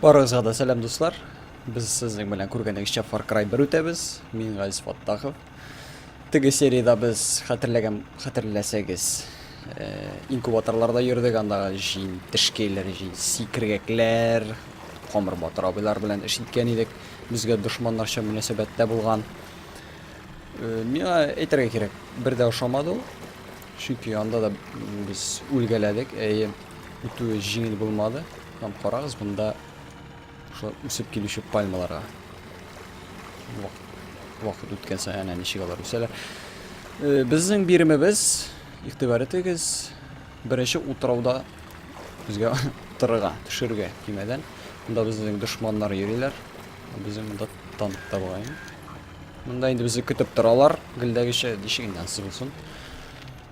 Барыгызга да сәлам дуслар. Без сезнең белән күргәнегезчә Far Cry 1 үтәбез. Мин Газиз Фаттахов. Теге сериядә без хәтерләгән хәтерләсәгез, э, инкубаторларда йөрдек, андагы җин, тешкәйләр, җин, сикергәкләр, камыр батыр абыйлар белән эш иткән идек. Безгә дошманнарча мөнәсәбәттә булган. Э, миңа әйтергә кирәк, бер дә ошамады ул. Чөнки анда да без үлгәләдек, әйе. Э, Үтүе җиңел булмады. Һәм карагыз, монда шулай үсеп килүче пальмаларга. Вакыт үткән саен әнә ничек алар үсәләр. Э, безнең биремебез, игътибар итегез, беренче утрауда безгә торырга, төшерергә көймәдән. Монда безнең дошманнар йөриләр. Безнең монда танк та Монда инде безне көтеп торалар. Гелдәгечә ничек инде ансыз булсын.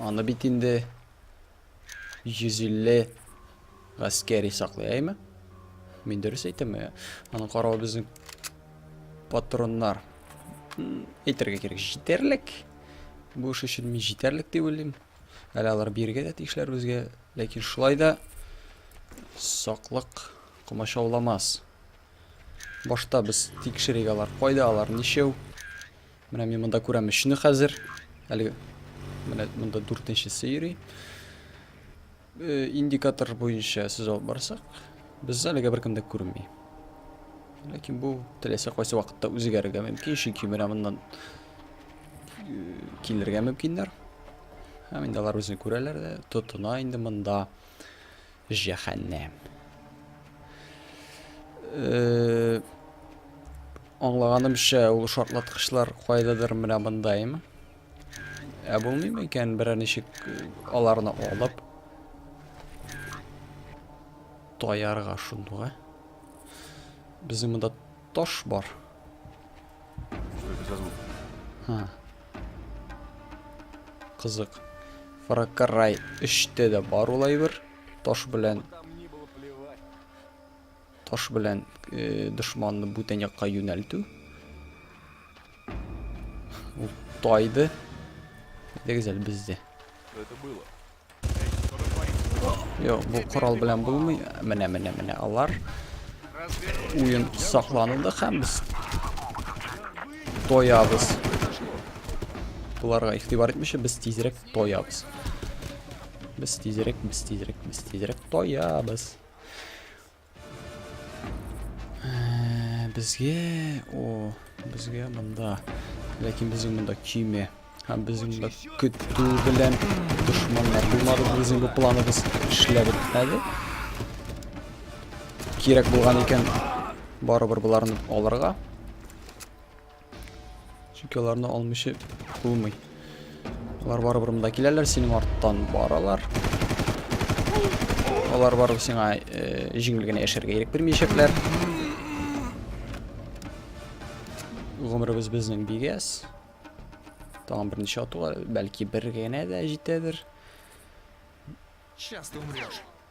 Аны бит инде 150 гаскәри саклый, әйме? Мин дөрес әйтәме? Аны карау безнең патроннар. Әйтергә кирәк, җитәрлек. Бу эш өчен мин җитәрлек дип уйлыйм. Әле алар биргә дә тиешләр безгә, ләкин шулай да саклык комачауламас. Башта без тикшерик алар кайда, алар ничәү. Менә мин монда күрәм өчне хәзер. Әле менә монда дүртенчесе йөри. Э, индикатор буенча сез алып барсак, без әлегә беркем дә күренми. Ләкин бу теләсә кайсы вакытта үзгәрергә мөмкин, чөнки менә моннан э, килергә мөмкиннәр. Һәм инде алар үзен күрәләр дә, тотына инде монда. Җәһәннәм. Э, аңлаганымча, ул шартлаткычлар кайдадыр менә мондаймы? Ә булмыймы икән берәр ничек э, аларны алып таярга шундуга? Безнең монда таш бар. Что это за звук? А. Кызык. Фаракарай эште дә бар ул әйбер. Таш белән Таш белән э, дошманны бүтән якка юнәлтү. Ул тайды. Дигез әле бездә. Это было. Йо, бу корал белән булмый. Менә, менә, менә алар. Уен сакланылды һәм без тоябыз. Буларга игътибар итмичә без тизрәк тоябыз. Без тизрәк, без тизрәк, без тизрәк тоябыз. Э, безгә, о, безгә монда. Ләкин безнең монда киме. Һәм безнең монда көтү белән дошманнар булмады. Безнең бу планыбыз эшләп бетмәде. Кирәк булган икән барыбер боларны алырга. Чөнки аларны алмыйча булмый. Алар барыбер монда киләләр, синең арттан баралар. Алар барып сиңа э, җиңел генә яшәргә ирек бирмәячәкләр. Гомеребез безнең бигәс. Тагын берничә атуга, бәлки бер генә дә җитәдер. Сейчас ты умрешь.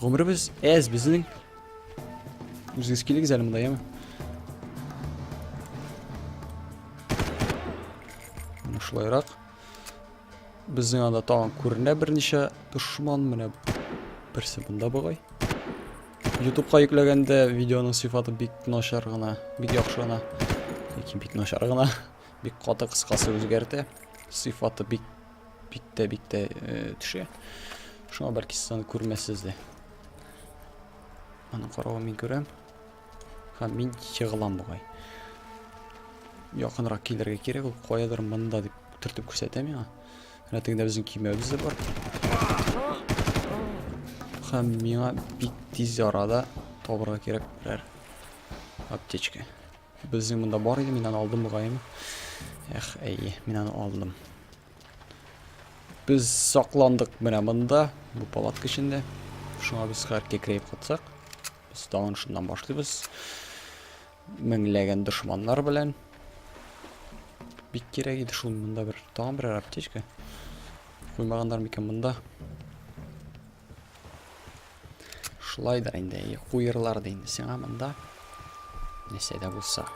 Гомеребез әз безнең. Үзегез килегез әле монда, яме? Шулайрак. Безнең анда тагын күренә берничә дошман менә берсе бында бугай. Ютубка йөкләгәндә видеоның сыйфаты бик начар гына, бик яхшы гына. Яки бик начар гына, бик каты кыскасы үзгәртә. Сыйфаты бик Бик тә бик тә төшә. Шуңа бәлки сез аны күрмәссез дә. Аның каравы мин күрәм. Һәм мин егылам бугай. Якынрак килергә кирәк, ул каядыр монда дип төртеп күрсәтә миңа. Менә тегендә безнең көймәбез дә бар. Һәм миңа бик тиз арада табырга кирәк берәр аптечка. Безнең монда бар иде, мин аны алдым мөгаен. Эх, әйе, мин аны алдым. Без сакландык менә монда, бу палатка эчендә. Шуңа без хәр кекрәеп катсак, без тагын шуннан башлыйбыз. Меңләгән дошманнар белән. Бик кирәк иде шул монда бер тагын бер аптечка. Куймаганнар микән монда? Шулайдыр инде, әйе, куерлар да инде сиңа монда. Нәрсә дә булса.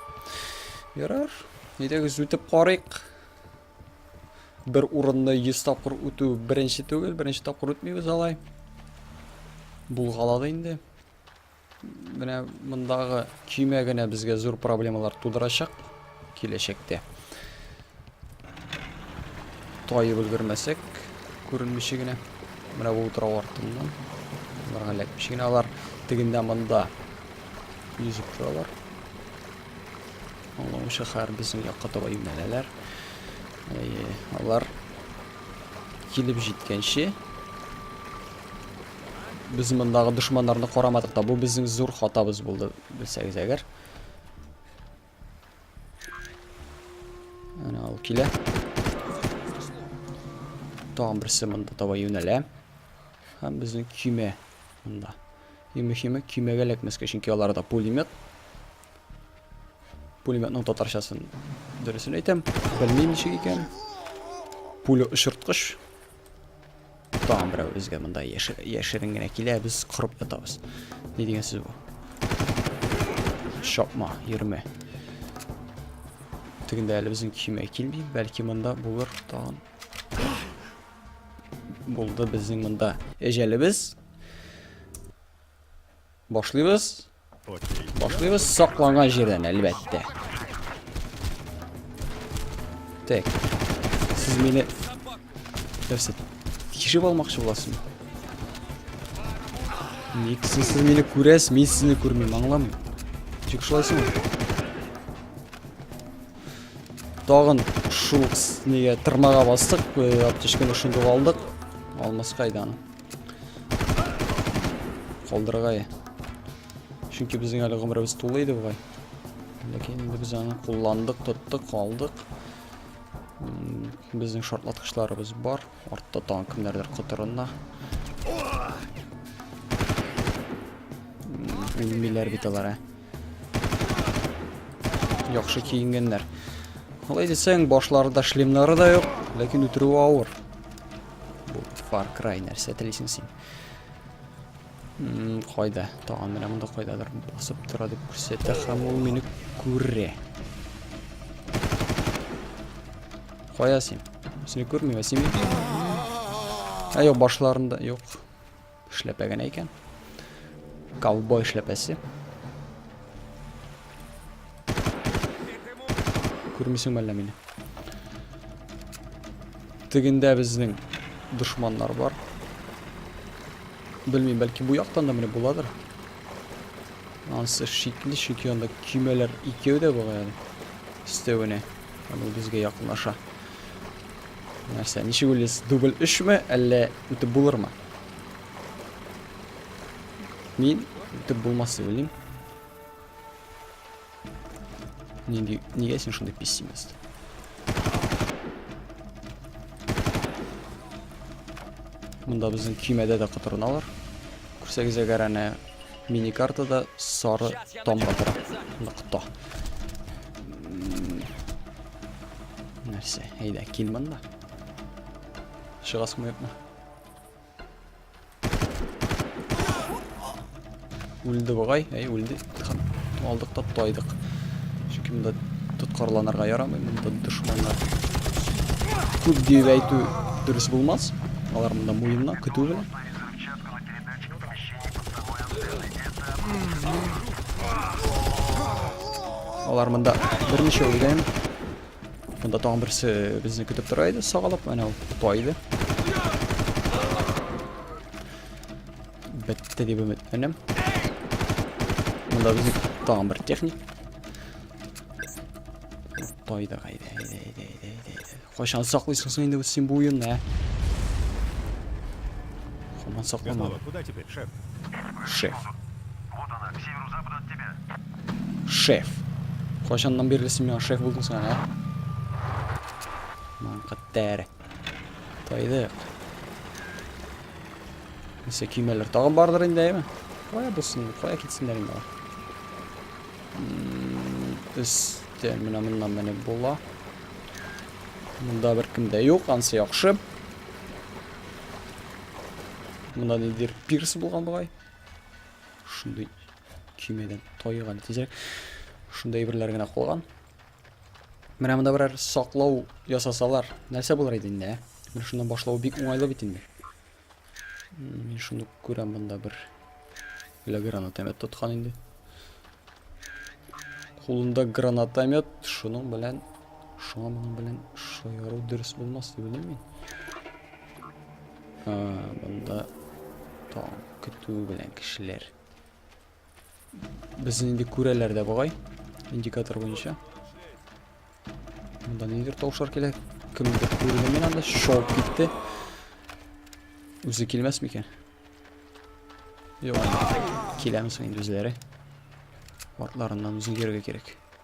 Ярар, әйдәгез үтеп карыйк. Бер урынны 100 тапкыр үтү беренче түгел, беренче тапкыр үтмибез алай. Булгалады инде. Менә мондагы көймә генә безгә зур проблемалар тудырачак. Киләчәктә. Тайып өлгермәсәк, күренмичә генә. Менә бу утрау артыннан. Аларга эләкмичә генә алар тегендә монда йөзеп торалар. Аллау шәһәр безнең якка таба юнәләләр. Әйе, алар килеп җиткәнче без мондагы дошманнарны карамадык та. Бу безнең зур хатабыз булды, белсәгез әгәр. Әнә ул килә. Тагын берсе монда таба юнәлә. Һәм безнең көймә монда. Иң мөһиме көймәгә эләкмәскә, чөнки аларда пулемет. Пулеметның татарчасын дөресен әйтәм, белмим ничек икән. Пуля очырткыч. Тагын берәү безгә монда яшерен генә килә, без кырып ятабыз. Ни дигән сүз бу? Чапма, йөрмә. Тегендә әле безнең көймә килми, бәлки монда булыр тагын. Булды безнең монда. Эҗәлебез. Башлыйбыз. Башлыйбыз сакланган җирдән, әлбәттә. Так. Сез мине нәрсә? Тикшереп алмакчы буласызмы? Ник сез мине күрәсез, мин сезне күрмим, аңлам. Тик шулайсыңмы? Тагын шул неге тырмага бастык, аптечканы шундук алдык. Алмас кайдан? Калдырырга я. Чөнки безнең әле гомеребез тулы иде бугай. Ләкин инде без аны кулландык, тоттык, алдык. Безнең шартлаткычларыбыз бар. Артта тагын кемнәрдер котырында. Үлмиләр бит алар, ә. Яхшы киенгәннәр. Алай дисәң, башларында шлемнары да юк, ләкин үтерүе авыр. Бу Far Cry нәрсә телисең син? Мм, кайда? Тагын менә монда кайдадыр басып тора дип күрсәтә һәм ул мине күрә. Кая син? Сине күрмим, ә син? Ә юк, башларында юк. Эшләпә генә икән. Ковбой эшләпәсе. Күрмисең әллә мине? Тегендә безнең дошманнар бар. Белмим, бәлки бу яктан да менә буладыр. Ансы шикле, чөнки анда көймәләр икәү дә була әле. Өстәвенә. Аны безгә якынлаша. Нәрсә, ничек уйлыйсыз? Дубль 3 ме, әллә үтеп булырмы? Мин итеп булмас дип уйлыйм. Нигә, нигә син шундый пессимист? Монда безнең көймәдә дә котырыналар. Күрсәгез әгәр әнә мини картада сары тамга тора. Нокта. Нәрсә? Әйдә, кил монда. Чыгасың юкмы? Үлде бугай, әй үлде. Алдык та тайдык. Чөнки монда тоткарланырга ярамый, монда дошманнар. Күп дип әйтү дөрес булмас. Алар монда муенна көтү белән. Алар монда берничә үлгән. Монда тагын берсе безне көтеп тора иде, сагалап, әнә ул тота иде. Бетте дип өметләнәм. Монда безне тагын бер техник. Тота иде, әйдә, әйдә, әйдә, әйдә, әйдә. Кайчан саклыйсың син инде син бу уенны, ә? Хаман сакламады. Куда теперь, шеф? Шеф. Вот она, к северу-западу от тебя. Шеф. Кайчаннан бирле син миңа шеф булдың соң, а? Ман каттер. Тайдык. Нисә көймәләр тагын бардыр инде, әйме? Кая булсын, кая китсеннәр инде алар? Өстә менә моннан менеп була. Монда беркем дә юк, ансы яхшы. Монда нидер пирс булган бугай. Шундый Көймәдән тайык әле тизрәк. Шундай әйберләр генә калган. Менә монда берәр саклау ясасалар, нәрсә булыр иде инде, ә? Менә шуннан башлау бик уңайлы бит инде. Мин шуны күрәм монда бер Бля, гранатомет тоткан инде. Кулында гранатомет, шуның белән шуңа моның белән шаяру дөрес булмас дип уйлыйм мин. Ә, монда таң көтү белән кешеләр. Безне инде күрәләр дә бугай. Индикатор буенча. Монда нидер тавышлар килә. Кемдер күрде мин анда шоп китте. Үзе килмәс микән? Юк. Киләмсең инде үзләре. Артларыннан үзең йөрергә кирәк.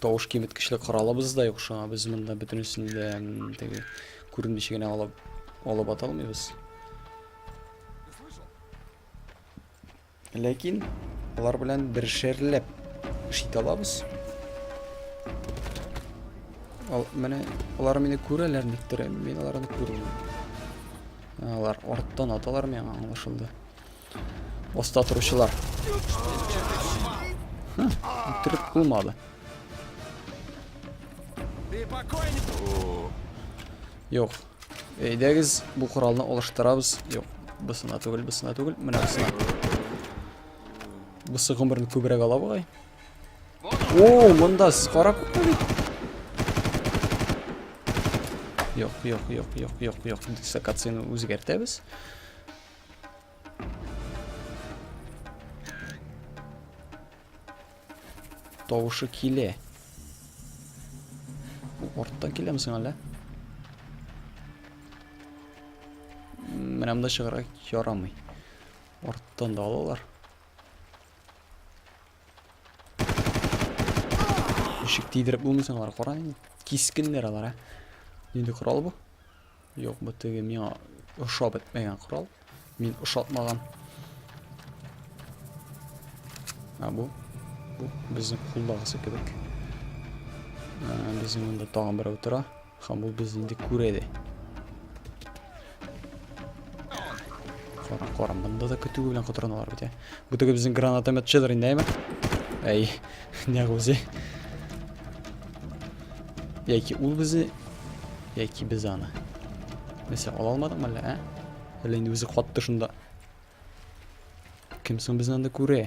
Тавыш киметкечле коралыбыз да юк шуңа без монда бөтенесен дә теге күренмичә генә алып алып ата алмыйбыз. Ләкин алар белән бер шәрләп эш итә алабыз. Ал, менә алар мине күрәләр никтер, мин аларны күрмим. Алар арттан аталар миңа аңлашылды. Оста торучылар. Үтереп булмады. Юк. Әйдәгез, бу коралны алыштырабыз. Юк, бысына түгел, бысына түгел. Менә бысына. Бусы гомерен күбрәк ала бугай. О, монда сез кара күпме бит? Юк, юк, юк, юк, юк, юк. Дислокацияне үзгәртәбез. Тавышы киле. Бу арттан киләме соң әллә? Менә монда чыгарга ярамый. Арттан да алалар. Ишек тидереп булмый соң алар, кара инде. Кискеннәр алар, ә. Нинди корал бу? Юк, бу теге миңа ошап бетмәгән корал. Мин ошатмаган. А бу? Бу безнең кулдагысы кебек. Ә, безнең монда тагын берәү тора. Һәм ул без инде күрә дә. Кара, кара, монда да көтү белән котраналар бит, ә. Бу теге безнең гранатометчыдыр инде, әйме? Әй, не гузе. Яки ул безне, яки без аны. Нәрсә, ала алмадыңмы әллә, ә? Әллә инде үзе катты шунда. Кем соң безне анда күрә?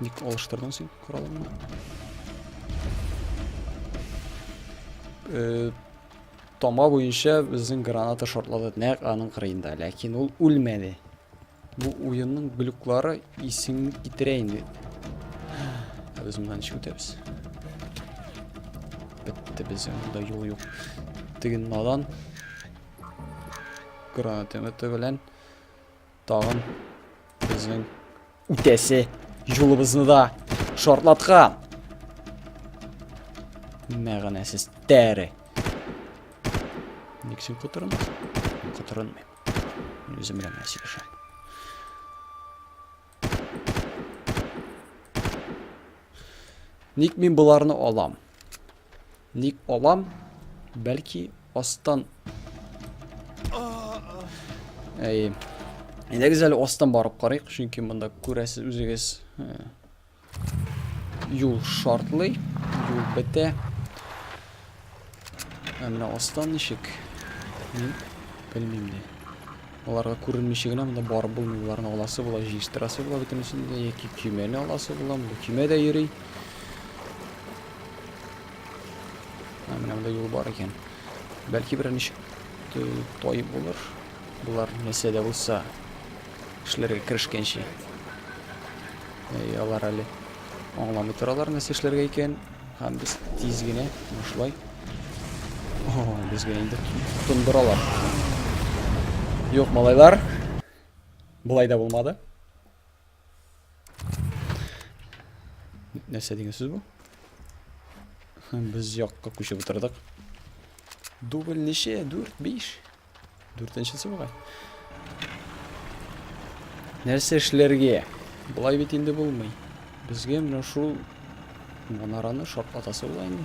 Ник алыштырдың син коралыңны? Э, Тома буенча безнең граната шортлады нәкъ аның кырыенда, ләкин ул үлмәде. Бу уенның глюклары исең китерә инде. Ә без моннан ничек үтәбез? Бетте безнең монда юл юк. Теге надан гранатометы белән Тагын безнең үтәсе юлыбызны да шартлаткан. Мәгънәсез тәре. Ник син котырынмыйсың? Котырынмыйм. Үзем белән генә сөйләшәм. Ник мин боларны алам? Ник алам? Бәлки астан... Әй... Әйдәгез әле астан барып қарайық, чөнки мында күрәсез үзегез юл шартлый, юл бетә. Ә менә астан ничек? Мин белмим дә. Аларга күренмичә генә монда барып булмый. Боларны аласы була, җыештырасы була бөтенесен дә, яки көймәне аласы була. Монда көймә дә йөри. Ә менә монда юл бар икән. Бәлки берәр ничек тай булыр. Болар нәрсә дә булса эшләргә керешкәнче. Әй, алар әле аңламый торалар нәрсә эшләргә икән. Һәм без тиз генә бушлай. О, безгә инде тондыралар. Юк, малайлар. Болай да булмады. Нәрсә дигән сүз бу? Без якка күчеп утырдык. Дубль ничә? 4, 5. Дүртенчесе бугай. Нәрсә эшләргә? Болай бит инде булмый. Безгә менә шул манараны шартлатасы була инде.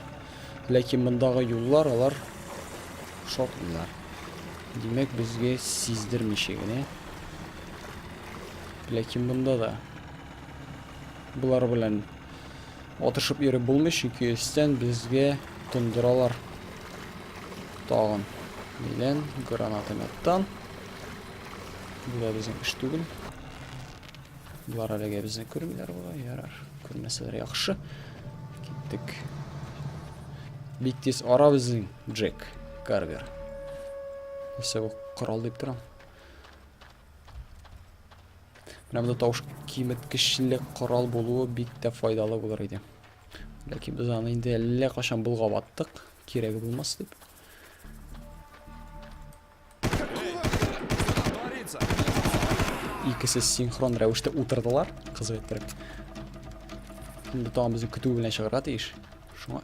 Ләкин мондагы юллар алар шартлыйлар. Димәк, безгә сиздермичә генә. Ләкин монда да булар белән Атышып йөреп булмый, чөнки өстән безгә тондыралар. Тагын белән гранатометтан. Бу безнең эш түгел. Болар әлегә безне күрмиләр була, ярар. Күрмәсәләр яхшы. Киттек. Бик тиз ара безнең Джек Карвер. Нәрсә бу корал дип торам. Менә монда тавыш киметкечле корал булуы бик тә файдалы булыр иде. Ләкин без аны инде әллә кашан булгап аттык, кирәге булмас дип. Икесе синхрон рәвештә утырдылар, кызык иттереп. Инде тагын безне көтү белән чыгарга тиеш. Шуңа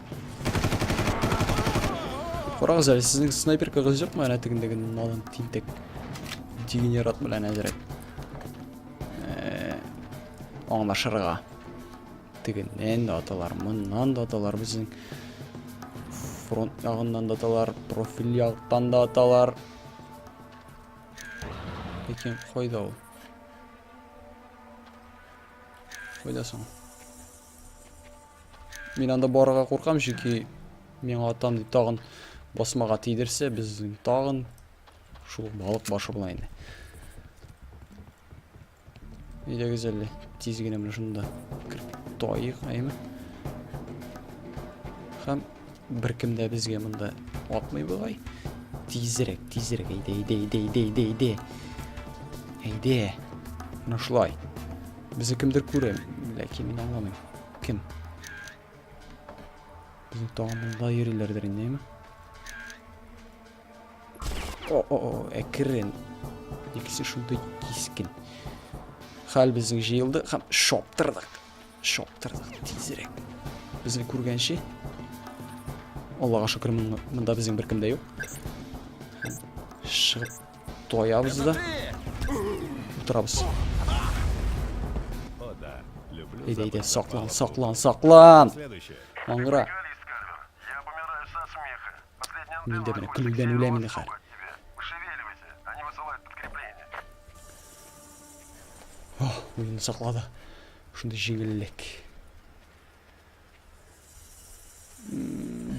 Карагыз әле, сезнең снайперкагыз юкмы? Әнә тегендәге налын тинтек. Дегенерат белән әзрәк. Э, аңлашырга. Тегеннән дә аталар, моннан да аталар безнең. Фронт ягыннан да аталар, профиль яктан да аталар. Ләкин кайда ул? Кайда соң? Мин анда барырга куркам, чөнки миңа атам дип тагын басмага тидерсә, без тагын шул балык башы була инде. Идегез әле, тиз генә менә шунда кертаек, әйме? Хәм Беркем дә безгә монда атмый бугай. Тизрәк, тизрәк, әйдә, әйдә, әйдә, әйдә, әйдә, әйдә. Әйдә. Менә шулай. Безне кемдер күрә, ләкин мин аңламыйм. Кем? Безнең тагын монда йөриләрдер инде, О, о, о, әкрен. Икесе шундый кискен. Хәл безнең җыелды һәм шаптырдык. Чаптырдык тизрәк. Безне күргәнче. Аллага шөкер, монда безнең беркем дә юк. Чыгып тоябыз да. Утырабыз. Әйдә, әйдә, саклан, саклан, саклан! Аңгыра. Мин дә менә көлүдән үләм инде хәзер. Ох, уен саклады. Шундый җиңеллек.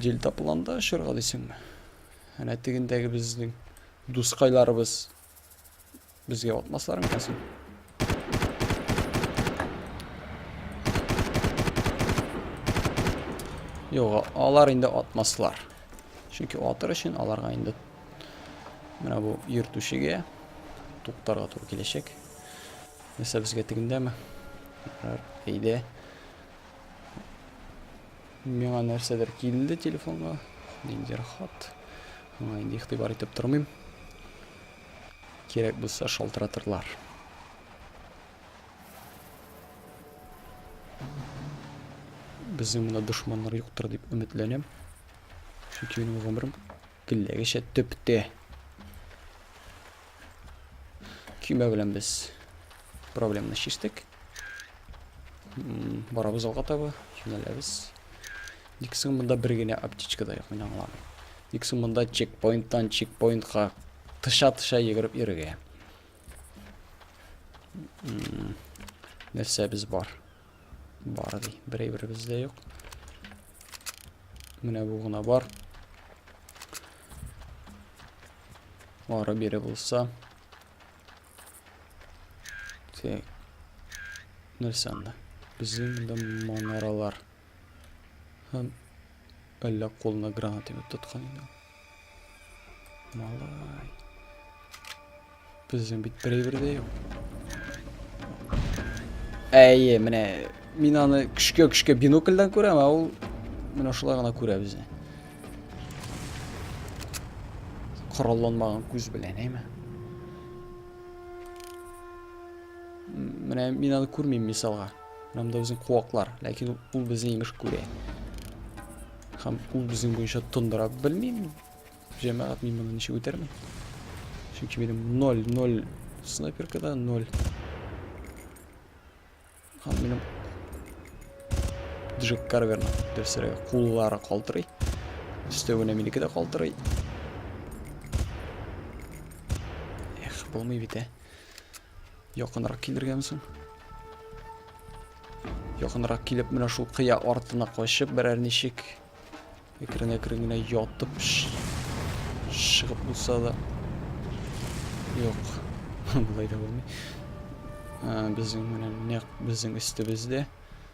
Дел тапыланда очырга дисеңме? Әнә тегендәге безнең дускайларыбыз безгә атмаслар микән соң? Юк, алар инде атмаслар. Чөнки атыр өчен аларга инде менә бу йөртүчегә туктарга туры киләчәк. Нәрсә безгә тегендәме? Әйдә. Миңа нәрсәдер килде телефонга. Ниндер хат. Аңа инде игътибар итеп тормыйм. Кирәк булса шалтыратырлар. Безнең монда дошманнар юктыр дип өметләнәм. Чөнки минем гомерем Телләгечә төптә. Көймә белән без проблеманы чиштек. Барабыз алга таба, юнәләбез. Ник соң монда бер генә аптечка да юк, мин аңламыйм. Ник соң монда чекпоинттан чекпоинтка тыша-тыша йөгереп йөрергә. Нәрсәбез бар? Бар ди. Берәй бер бездә юк. Менә бу гына бар. Ары бире булса. Тек. Нәрсә анда? Безнең монда манаралар. Һәм әллә кулына граната тоткан иде. Малай. Безнең бит берәйбер дә юк. Әйе, менә мин аны көшкә-көшкә бинокльдән күрәм, ә ул менә шулай гына күрә безне. Коралланмаган күз белән, әйме? Менә мин аны күрмим мисалга. Һәм дә үзен куаклар. Ләкин ул безне имеш күрә. Һәм ул безнең буенча тондыра белмим. Җәмәгать мин моны ничек үтәрмен? Чөнки минем 0 0 снайперкада 0. Һәм минем Джек Карверна дөресрәге куллары калтырый. Өстәвенә минеке дә калтырый. Эх, булмый бит, ә. Якынрак килергәме соң? Якынрак килеп, менә шул кыя артына качып, берәр ничек әкрен-әкрен генә ятып чыгып булса да. Юк. Болай да булмый. Ә, безнең менә нәкъ безнең өстебездә.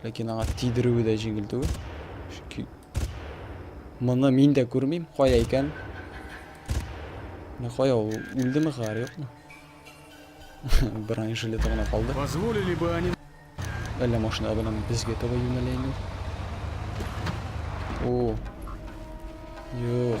Ләкин аңа тидерүе дә җиңел түгел. Чөнки моны мин дә күрмим, кая икән? Менә кая ул? Үлдеме хәр, юкмы? Бронежилеты гына калды. Позволили бы они... Әллә машина белән безгә таба юнәлә инде. О. Юк.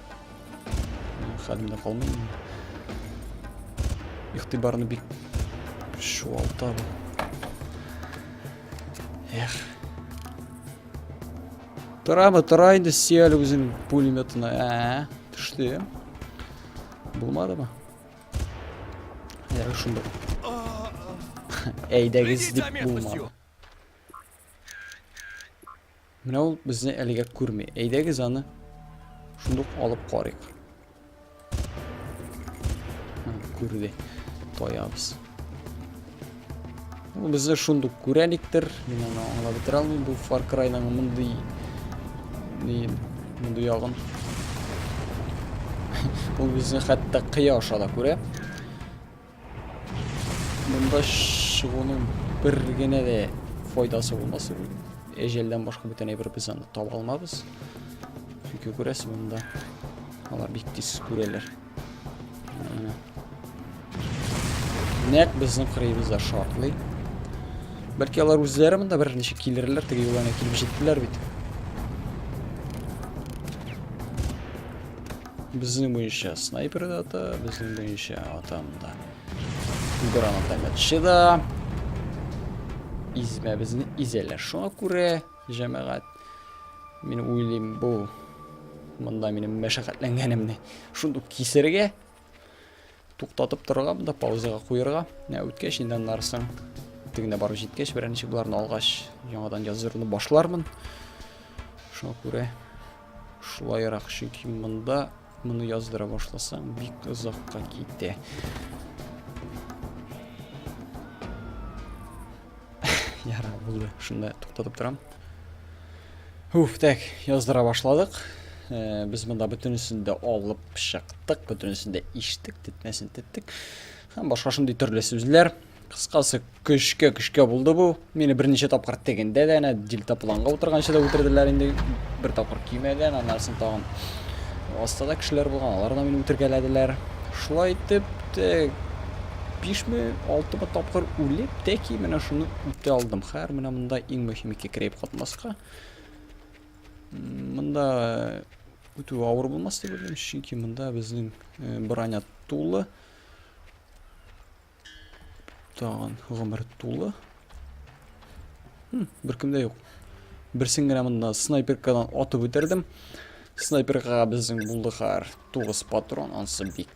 Хәлем дә калмый. Ихтибарны бик шуалта бу. Эх. Торамы, тора инде сөял үзен пулеметына. Ә, төште. Булмады ма? Ярык шунда. Әйдәгез дип булмады. Менә ул безне әлегә күрми. Әйдәгез аны шундук алып карыйк. Күрде. Тоябыз. Ул безне шундук күрәлектер. Мин аны аңлап бетерә алмыйм. Бу Far Cry-ның мондый мондый ягын. Ул безне хәтта кыя аша да күрә. Монда чыгуның бер генә дә файдасы булмас. Әҗәлдән башка бүтән әйбер без аны таба алмабыз. Чөнки күрәсез монда алар бик тиз күрәләр. Нәк безнең кырыебызда шартлый. Бәлки алар үзләре монда бер ничек килерләр, теге юлларына килеп җиттеләр бит. Безнең буенча снайпер да ата, безнең буенча атам да. Гранатометчы да. Измә безне изәлә. Шуңа күрә, җәмәгать, мин уйлыйм бу мында минем мәшәкатьләнгәнемне шундук кисергә. Туктатып торырга монда, паузага куерга. Ә үткәч инде аннарысын тегенә барып җиткәч, беренче боларны алгач, яңадан языруны башлармын. Шуңа күрә шулайрак, чөнки монда моны яздыра башласаң, бик озакка китә. Яра, булды. Шунда туктатып торам. Уф, так, яздыра башладык. Э, без монда бөтенесен дә алып чыктык, бөтенесен дә иштек, тетмәсен теттек. Һәм башка шундый төрле сүзләр. Кыскасы, көшкә көшкә булды бу. Мине берничә тапкыр тегендә дә, әнә дельтапланга утырганчы да үтерделәр инде. Бер тапкыр кимәгән, аннарсын тагын астада кешеләр булган, алар да мине үтергәләделәр. Шулай итеп, Бишме, алтымы тапкыр үлеп, тәки менә шуны үтә алдым. Хәер, менә монда иң мөһим ике крейп катнаска. Монда үтү авыр булмас дип уйлыйм, чөнки монда безнең э, броня тулы. Тагын гомер тулы. Хм, беркемдә юк. Берсен генә монда снайперкадан атып үтердем. Снайперга безнең булды хәр 9 патрон, ансы бик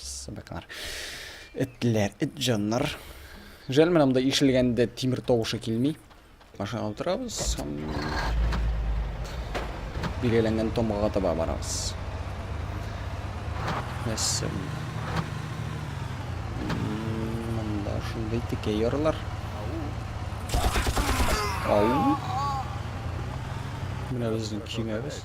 Сабаклар. Этләр, эт җаннар. Жәл менә монда ишелгәндә тимер тавышы килми. Машина утырабыз. Билгеләнгән томга таба барабыз. Мәссәм. Монда шундый текә ярлар. Ау. Менә безнең киңәбез.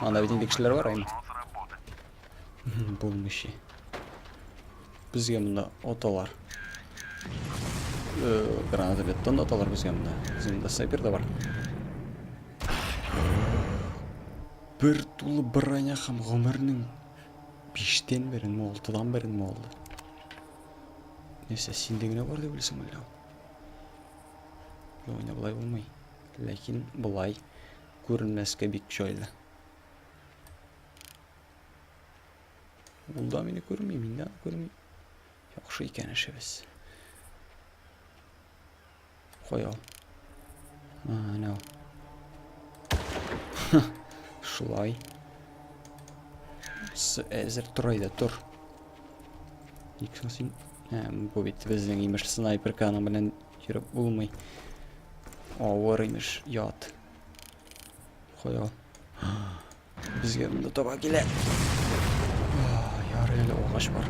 Анда бит инде кешеләр бар инде. Булмышы. Безгә монда оталар. Э, граната бит тонда оталар безгә монда. Безнең дә снайпер да бар. Бер тулы броня һәм гомернең 5-тән берен, 6-дан берен алды. Нәрсә, синдә генә бар дип белсәм әллә? Югыйсә болай булмый. Ләкин болай күренмәскә бик җайлы. Ул да мине күрми, мин дә күрми. Яхшы икән эшебез. Кой ул. Менә ул. Шулай. Әзер тор әйдә, тор. Тик соң син... Ә, бу бит безнең имеш снайперканың белән йөреп булмый. Авыр имеш, ят. Кая? Безгә монда таба килә. Ярый әле агач бар.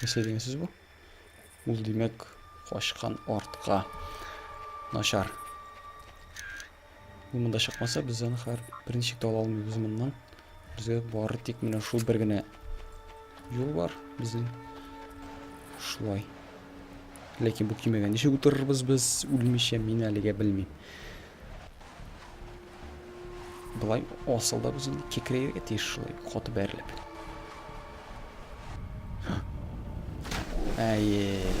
Нәрсә дигән сүз бу? Ул димәк качкан артка. Начар. Ул монда чыкмаса, без аны хәр беренче тә ала алмыйбыз моннан. Безгә бары тик менә шул бер генә юл бар безнең. Шулай. Ләкин бу кимәгә ничек утырырбыз без үлмичә, мин әлегә белмим. Былай асылда без инде кекрәйергә тиеш шулай каты бәрелеп. Әйе,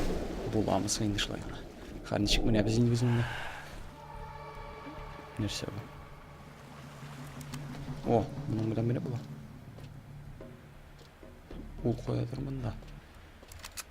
буламыз инде шулай гына. Хәзер ничек менә без инде без монда. Нәрсә бу? О, моның белән менә була. Ул каядыр монда.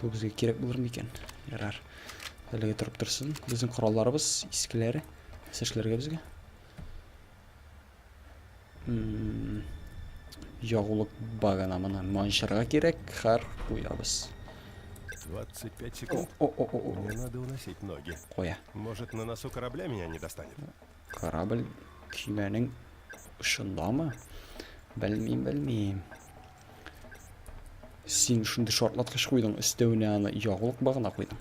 Бу безгә кирәк булыр микән? Ярар. Әлеге торып торсын. Безнең коралларыбыз искеләре. Сәшләргә безгә. Ягулык багана мына манчырга кирәк. Хар куябыз. 25 секунд. О -о -о -о. Мне надо уносить ноги. Коя. Может, на носу корабля меня не достанет? Корабль кимәнең шундамы? Белмим, белмим. Син шундый шартлаткыч куйдың, өстәвенә аны ягулык багына куйдың.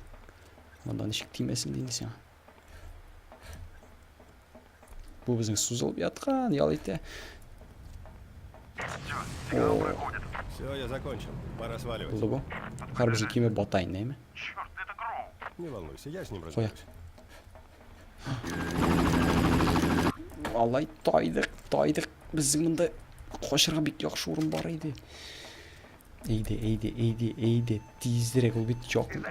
Монда ничек тимәсен инде сиңа. Бу безнең сузылып яткан, ял итә. Все, я закончил. Пора сваливать. Булды бу. Хәр безнең киме бата инде, әйме? Не волнуйся, я с ним разберусь. Алай тайдык, тайдык. Безнең монда качырга бик яхшы урын бар иде. Әйде, әйде, әйде, әйде. Тизрәк ул бит якын.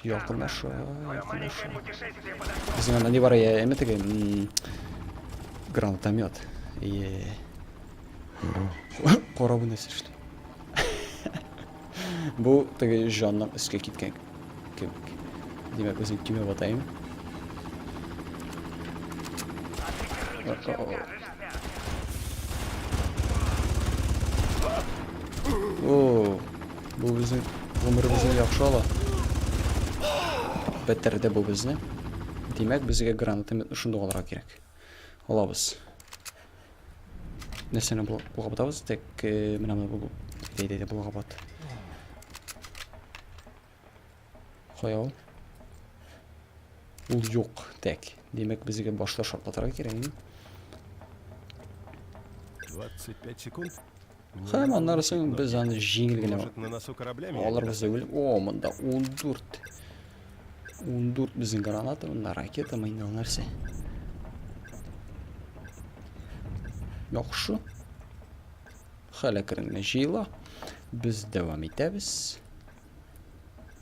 Якынаша, якынаша. Безнең анда не бар я, әмә теге гранатомет. Е. Корабы нәрсә эшли? Бу теге җанның өскә киткән кебек. Димәк, үзем кимеп атайым. О, бу безнең гомеребезне яхшы ала. Бетерде бу безне. Димәк, безгә гранатомет шундый алырга кирәк. Алабыз. нәрсәне болгабытабыз тек э, менә моны әйдә әйдә болгабыт кая ул ул юк тәк димәк безгә башта шартлатырга кирәк инде 25 секунд Һәм аннары соң без аны җиңел генә алырбыз дип уйлыйм. О, монда 14. 14 безнең граната, монда ракета, мыйнал нәрсә. Яхшы. Хәл әкрен генә җыела. Без дәвам итәбез.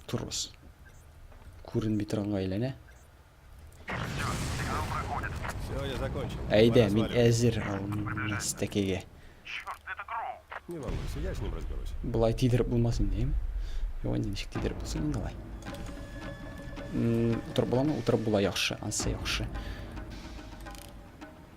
Торырбыз. Күренми торганга әйләнә. Әйдә, мин әзер алмас тәкеге. Не волнуйся, я с ним разберусь. Булай тидереп булмас инде. Юан ничек тидереп булсын инде алай. Утырып буламы? Утырып була яхшы, ансы яхшы.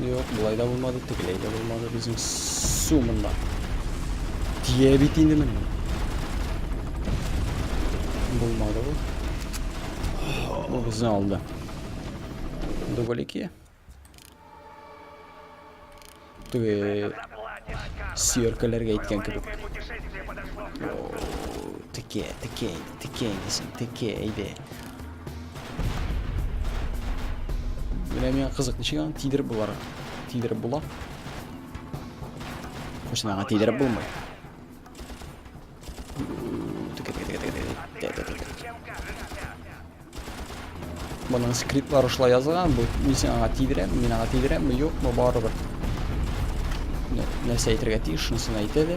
Юк, болай да булмады, тегеләй дә булмады безнең су монда. Тия бит инде менә. Булмады бу. Бу безне алды. Дубль 2. Түге сиеркаларга әйткән кебек. Текә, текә, текә, текә, әйдә. Менә миңа кызык, ничек аны тидереп булар? Тидереп була. Хоч аңа тидереп булмый. Моның скриптлар ошла язылган, бу мисен аңа тидерәм, мин аңа тидерәм, юк, бу барыбер. Нәрсә әйтергә тиеш, шунысын әйтә дә.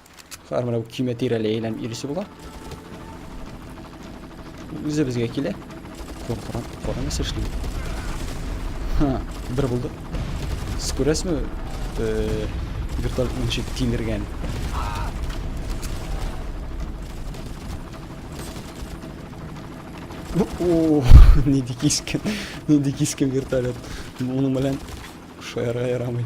Шулар менә көймә тирәли әйләнеп йөрисе була. Үзе безгә килә. Куркыран, куркыран нәрсә эшли. Ха, бер булды. Сез күрәсезме? Э, вертолет ничек тилергән. О, не дикискен. Не дикискен вертолет. Моның белән Шо яра ярамый.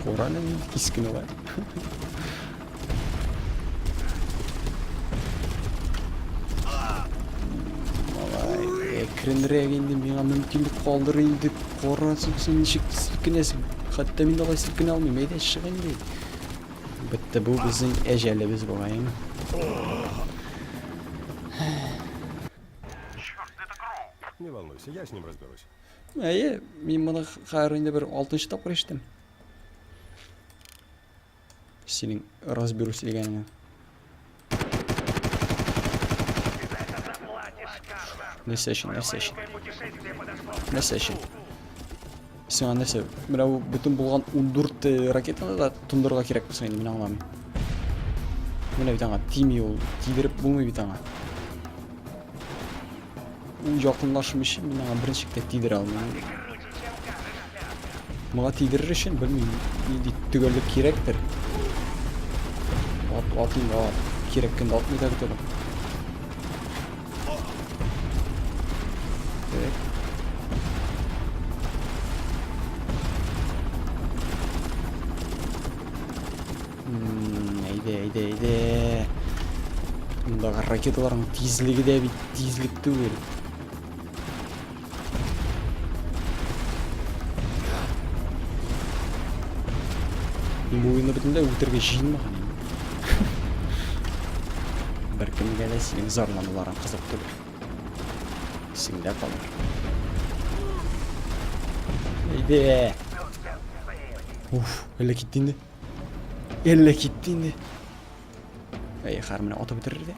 Корале мин кискене бар. Әкренрәк инде миңа мөмкинлек калдыр инде. Корасың син ничек селкенәсең? Хәтта мин дә алай селкенә алмыйм. Әйдә чыгыйм бит. Бетте бу безнең әҗәлебез бугай. Не волнуйся, я с ним разберусь. Әйе, мин моны хәзер инде бер 6 тапкыр ишеттем. Синең разберусь дигәнеңне. Нәрсә өчен, нәрсә өчен? Нәрсә өчен? Сиңа нәрсә? Менә бу бөтен булган 14 э, ракетаны да тондырырга кирәк булса инде, мин аңламыйм. Менә бит аңа тими ул, тидереп булмый бит аңа. Ул якынлашым өчен мин аңа беренче китә тидерә алмыйм. Моңа тидерер өчен белмим, нинди төгәллек кирәктер. Ат, атыйм, а, кирәк кенде атмый да бит ракеталарның тизлеге дә бит тизлек түгел Муйны бөтенләй үтерге җыенмаган. Беркемгә дә синең зарлануларың кызык түгел. Сиңдә калыр. Әйдә. Уф, әллә китте инде. Әллә китте инде. Әй, хар менә атып бетерер дә.